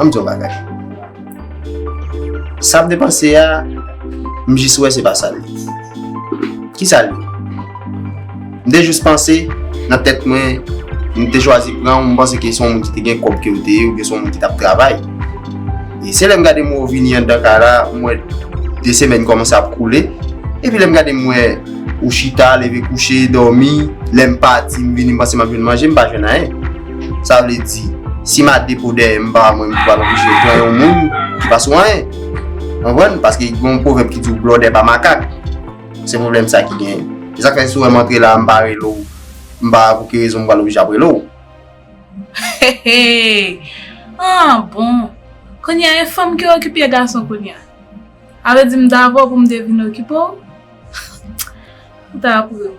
Anm diyon bagay. Sa ap depanse a, m jis wè se pa sa l ye. Ki sa l ye? M te jis panse nan tèt mwen, m te chwazi pran ou m panse ke se yon moun ki te gen kòb ke ou te ye oubyen se yon moun ki t ap travay. E se lè m gade mwen ou vini anndan kay la, m wè de semèn kòmanse ap koule. Epi lè m gade m wè ou chita, leve kouche, dòmi, lè m pati m vini m panse m ap jwenn manje, m pa jwenn anyen. Sa vle di, si ma depo dèyè m pa wè mwen m pral oblije pran yon moun ki pa sou anyen. Konprann? Paske gen yon pwovèb ki di w blòdè pa makak. Se pwoblèm sa ki genyen. Se sa k fè si w wè m antre la a m pa rele w, m pa wè pou ki rezon m pral oblije ap rele w. Heheheh! Ah bon! Kounye a e fanm ki okipe gason kounye a? A vle di m t avè w pou m te vin okipe w? Ou ta ap ri w.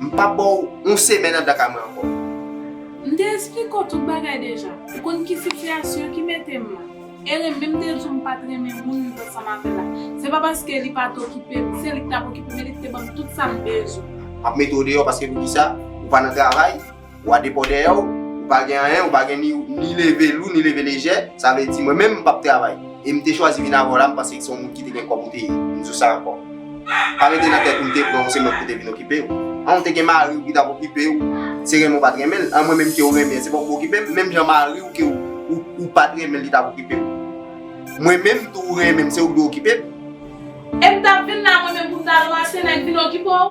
M pap ba w yon semèn anndan kay mwen ankò. M te esplike w tout bagay deja. Ou konn ki sitiyasyon ki mete m la. E renmen m te di w m pa t renmen moun m t ansanm avè l la. Se pa paske li pa t okipe m. Se li k t ap okipe m e li k te ban m tout sa m bezwen. M ap mete w deyò paske poukisa? Ou pa nan travay? Ou a depo dèyè ou, ou pa gen anyen, ou pa gen ni leve lou, ni leve lejè, sa vle di mwen menm m pap travay. E m te chwazi vin avè w la, m panse se yon moun ki te gen kòb ou te ye. M di w sa ankò. Pa mete nan tèt ou m te pran w se mwen ki pou te vin okipe w. An ou te gen mari w ki t ap okipe w, se renmen ou pa t renmen l. An mwen menm ke ou renmen an, se pa ou pou okipe m. Menm jan mari w ke ou pa t renmen l li t ap okipe w. Mwen menm tou ou renmen m, se ou ki dwe okipe m. E m t ap vin la mwen menm pou m t al ranse nèg vin okipe w?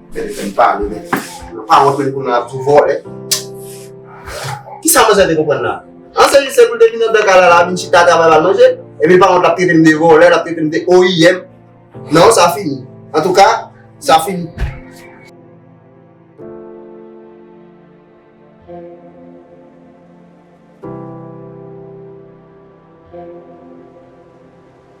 Mwen te fèm pale men. Mwen pa wont men pou nan ap tou vole. Ki sa mwen se te konpwen nan? An se li se pou l te vin nan bèk ala la vin chita travay la manje. E mi pa wont la pete m de vole, la pete m de oyiyem. Non sa fini. An tou ka, sa fini.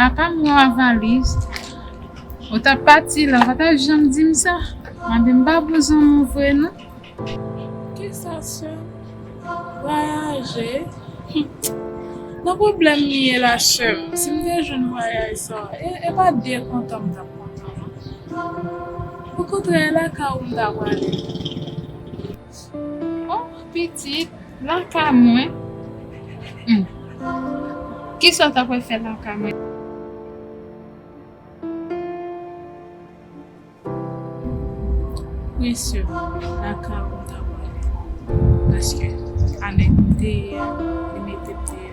Apam yon avaliz. Ou tap pati la, ou pa ta janm di m sa. Mwen di m pa bouzon nou vre non. Ki sa sè? Vwayaje? Nan pwoblèm m ye la sè m. Si m te jwenn vwayaj sa, e pa byen kontan m tap kontan non. Okontrè e lakay ou m ta prale. Oh pitit lakay mwen humm kisa w ta pral fè lakay mwen. Wi sè lakay ou m ta pral ale paske anèm deyè li metem deyè.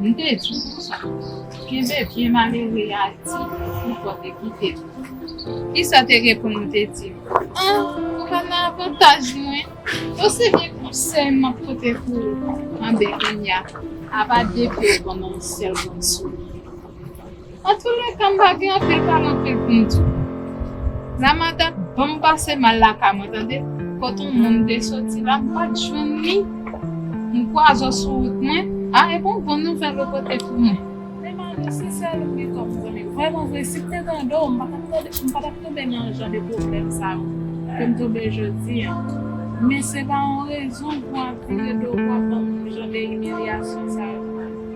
M te di w konsa. Kenbe byen malere a di pou kò te kite l. Kisa w te reponn ou te di m? An! Ou pa nan avantaj mwen. Ou se vye konsèy m ap pote pou ou anben kounya. Apa depi ou ban m yon sèl grenn souri. Antoulèka m pa gen anpil pale anpil pou m di w. Ramadan ban m pase mal lakay mwen tande, kot on moun te soti la m pa t jwenn li, m kwa zò sou wout mwen, a e bon bon nouvèl ou pote pou mwen. Men Manu si sèl ou pi fò m konnen. Vrèman vre si m te tande w m pa tap tande m pa tap tonbe nan jan de pwoblèm sa yo ke m tonbe jodi an. Men se pa on rezon pou w ap vire do w pou w ap ban m jan de imilyasyon sa yo.